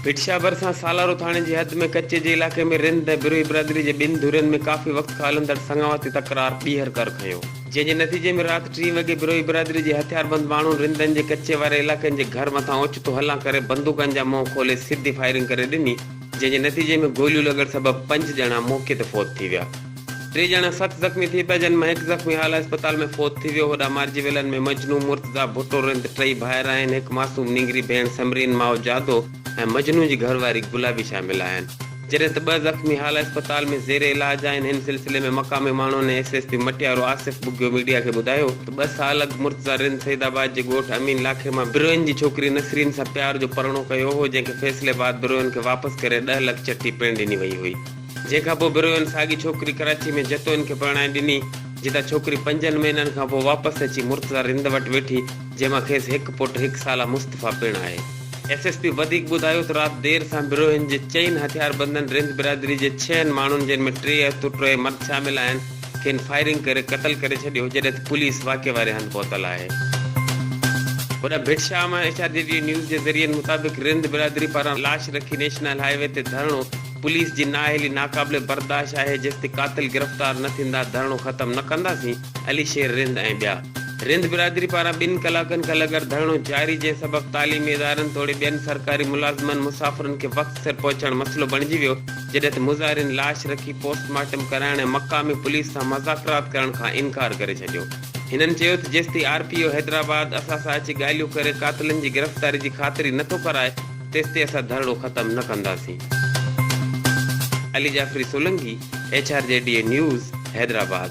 ڀٽشاهه ڀرسان سالارو ٿاڻي جي حد ۾ ڪچي جي علائقي ۾ رند ۽ بروهي برادري جي ٻن ڌرين ۾ ڪافي وقت کان هلندڙ سڱاواتي تڪرار ٻيهر ڪر کنيو. جنهن جي نتيجي ۾ رات ٽين وڳي بروهي برادري جي هٿياربند ماڻهن رندن جي ڪچي واري علائقن جي گهر مٿان اوچتو هلان ڪري بندوقن جا منهن کولي سڌي فائرنگ ڪري ڏني جنهن جي نتيجي ۾ گوليون لڳڻ سبب پنج ڄڻا موقعي تي فوت ٿي ويا ٽي ڄڻا سخت زخمي ٿي پيا جن مان هڪ زخمي اعليٰ اسپتال ۾ فوت ٿي ويو هوڏانهن مارجي ويلن ۾ مجنو، مرتضيٰ ڀٽو رند ٽئي ڀائر آهن هڪ معصوم نينگري ڀيڻ سمرين ماء جادو ۽ مجنو جي گهر واري گلابي شامل آهن. جڏهن ته ٻه زخمي هالا اسپتال ۾ زير علاج آهن، ان سلسلي ۾ مقامي ماڻهن ۽ S S P Matiaro Asif Bughio media کي ٻڌايو ته ٻه سال اڳ مرتضيٰ رند سيد آباد جي ڳوٺ امين لاکي مان بروهين جي ڇوڪري نسرين سان پيار جو پرڻو ڪيو هو جنهن کي فيصلي بعد بروهين کي واپس ڪري ڏهه لک چٽي پڻ ڏني وئي هئي جنهن کان پوء بروهين ساڳي ڇوڪري ڪراچي ۾ جتوئين کي پرڻائي ڏني جتان ڇوڪري پنجن مهينن کان پوء واپس اچي مرتضيٰ رند وٽ ويٺي جنهن مان کيس هڪ پٽ هڪ سالا مصطفيٰ پڻ آهي. ايس ايس پي وڌيڪ ٻڌايو ته رات دير سان بروهين جي چئن هٿياربندن رند برادري جي ڇهن ماڻهن جن ۾ ٽي عورتون ۽ ٽي مرد شامل آهن کين فائرنگ ڪري قتل ڪري ڇڏيو جڏهن ته پوليس واقعي واري هنڌ پهتل آهي. هوڏانهن ڀٽ شام ۽ ايڇ آر جي ويو نيوز جي ذريعن مطابق رند برادري پاران لاش رکي نيشنل هاء وي تي ڌرڻو پوليس جي نااهلي ناقابل برداشت آهي جيستائين قاتل گرفتار نه ٿيندا ڌرڻو ختم نه ڪنداسين. علي شير رند ۽ ٻيا. رند برادري پاران ٻن ڪلاڪن کان لڳر ڌرڻو جاري جنهن سبب تعليمي ادارن توڙي ٻين سرڪاري ملازمن مسافرن کي وقت سر پهچڻ مسئلو بڻجي ويو جڏهن ته مظاهرين لاش رکي پوسٽ مارٽم ڪرائڻ ۽ مقامي پوليس سان مذاڪرات ڪرڻ کان انڪار ڪري ڇڏيو هنن چيو ته جيستائين آر پي او حيدرآباد اسان سان اچي ڳالهيون ڪري قاتلن جي گرفتاري جي خاطري نٿو ڪرائي تيستائين اسان ڌرڻو ختم نه ڪنداسين. Ali Jafri Solangi, H R G D A news, Hyderabad.